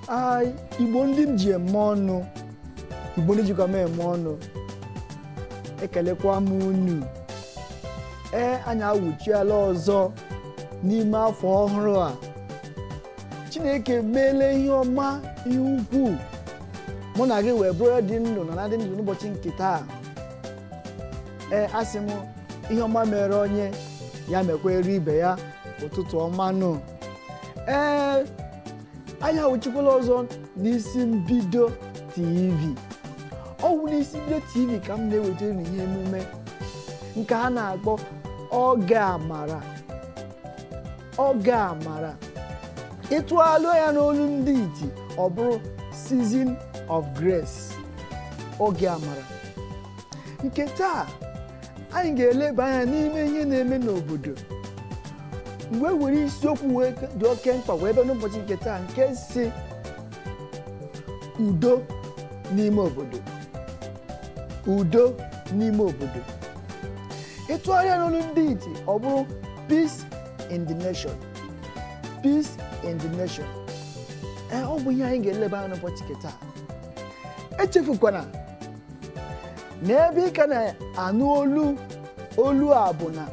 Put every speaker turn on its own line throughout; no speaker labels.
Ah, igbo ndị m ji eme ọnụ igbo ndị jikwa m eme ọnụ ekelekwa m unu ee anyị awụchiela ọzọ n'ime afọ ọhụrụ a chineke meela ihe ọma ihe ukwuu mụ na gị wee bụrụ dị ndụ n'ana ndị ndụ n'ụbọchị nke taa ee asị m ihe ọma mere onye ya mekwere ibe ya ụtụtụ ọma nụ ee anyị awụchikwala ọzọ n'isi mbido tv ọ bụ n'isi mbido tv ka m na-ewetara unu ihe emume nke a na-akpọ oge amara oge amara ịtụalụ ya n'olu ndị iti ọ bụrụ season of grace oge amara nke taa anyị ga-eleba anya n'ime ihe na-eme n'obodo m wee were isiokwu wee dị oke mkpa wee bịa n'ụbọchị nke taa nke sị udo n'ime obodo udo n'ime obodo ịtụgharịa n'olu ndị iti ọ bụrụ peace in the nation peace in the nation ee ọ bụ ihe anyị ga-eleba anya n'ụbọchị nke taa echefukwana na ebe ị ka na-anụ olu olu a bụ na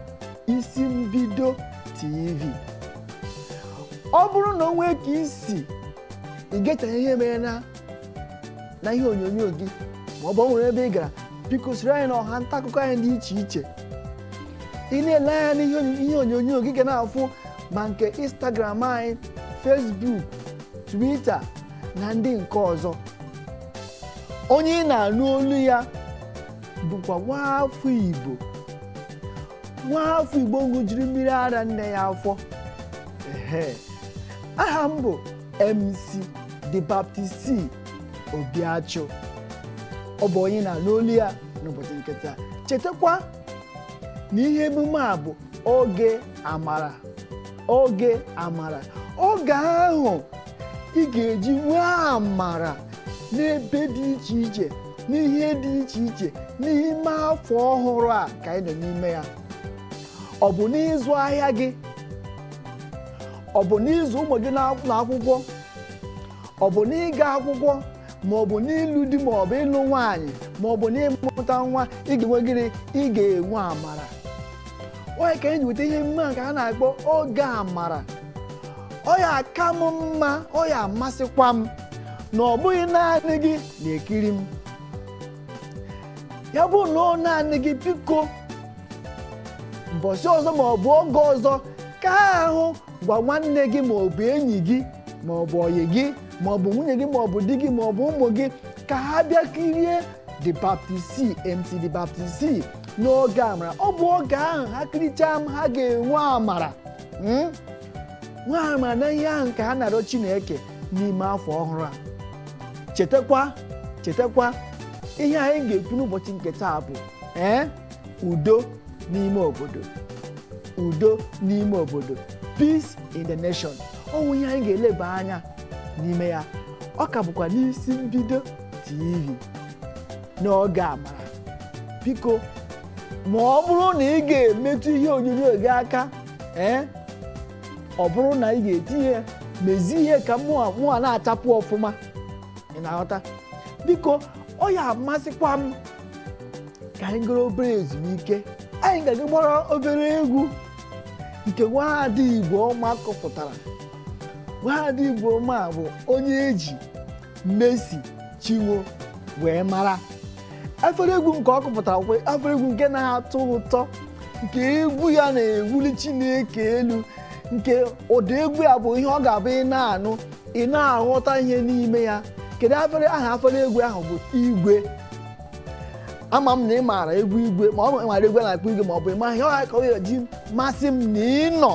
isi mbido tv ọ bụrụ na o nwee ka i si igechaghị ihe mere na na ihe onyonyo gị ma ọ bụ ọ nwere ebe ị gara biko soro anyị na ọha nta akụkọ anyị dị iche iche ị na-ele anya n'ihe onyo- ihe onyonyo gị ga na-afụ ma nke instagram anyị facebook twitter na ndị nke ọzọ onye ị na-anụ olu ya bụkwa nwa afọ igbo nwa afọ igbo ṅụjiri mmiri ara nne ya afọ ehe aha m bụ mc the baptist obiachụ ọ bụ onye ị na-anụ olu ya n'ụbọchị nke taa chetakwa na ihe emume a bụ oge amara oge amara oge ahụ ị ga-eji nwee amara n'ebe dị iche iche n'ihe dị iche iche n'ime afọ ọhụrụ a ka anyị nọ n'ime ya ọ bụ n'ịzụ ahịa gị ọ bụ n'ịzụ ụmụ gị n'akwụkwọ ọ bụ n'ịga akwụkwọ ma ọ bụ n'ịlụ di ma ọ bụ ịlụ nwaanyị ma ọ bụ n'ịmụta nwa ị ga-enwe gịnị ị ga-enwe amara ọ ya ka anyị ji weta ihe mma nke a na-akpọ oge amara ọ ya aka m mma ọ ya amasịkwa m na ọ bụghị naanị gị na-ekiri m ya bụ na ọ naanị gị biko mbọsị ọzọ ma ọ bụ oge ọzọ ka ahụ gwa nwanne gị ma ọ bụ enyi gị ma ọ bụ ọyị gị ma ọ bụ nwunye gị ma ọ bụ di gị ma ọ bụ ụmụ gị ka ha bịa kirie the baptist mc the baptist n'oge amara ọ bụ oge ahụ ha kirichaa m ha ga-enwe amara Hmm? nwee amara na ihe ahụ nke ha na-arịọ chineke n'ime afọ ọhụrụ a chetakwa chetakwa ihe anyị ga-ekwu n'ụbọchị nke taa bụ ee udo n'ime obodo udo n'ime obodo peace in the nation ọ bụ ihe anyị ga-eleba anya n'ime ya ọ ka bụkwa n'isi mbido tv n'oge amara biko ma ọ bụrụ na ị ga-emetụ ihe onyonyo gị aka ee ọ bụrụ na ị ga-etinye mezie ihe ka mụwa na-achapụ ọfụma ị na-aghọta biko ọ ya amasịkwa m ka anyị gara obere ezumike anyị ga-aga gbara obere egwu nke nwaada igbo ọma kụpụtara nwaada igbo ọma bụ onye e ji Mercy Chinwo wee mara afere egwu nke ọ kụpụtara bụ afere egwu nke na-atọ ụtọ nke egwu ya na-ewuli Chineke elu nke ụdị egwu ya bụ ihe ọ ga-abụ ị na-anụ ị na-aghọta ihe n'ime ya kedu afere aha afere egwu ahụ bụ igwe ama m na ị maara egwu igwe ma ọ bụ ị maara egwu a na-akpọ igwe ma ọ bụ ịma ihe ọha ka ọ ga-eji masị m na ị nọ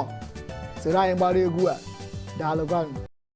soro anyị gbara egwu a daalụkwanụ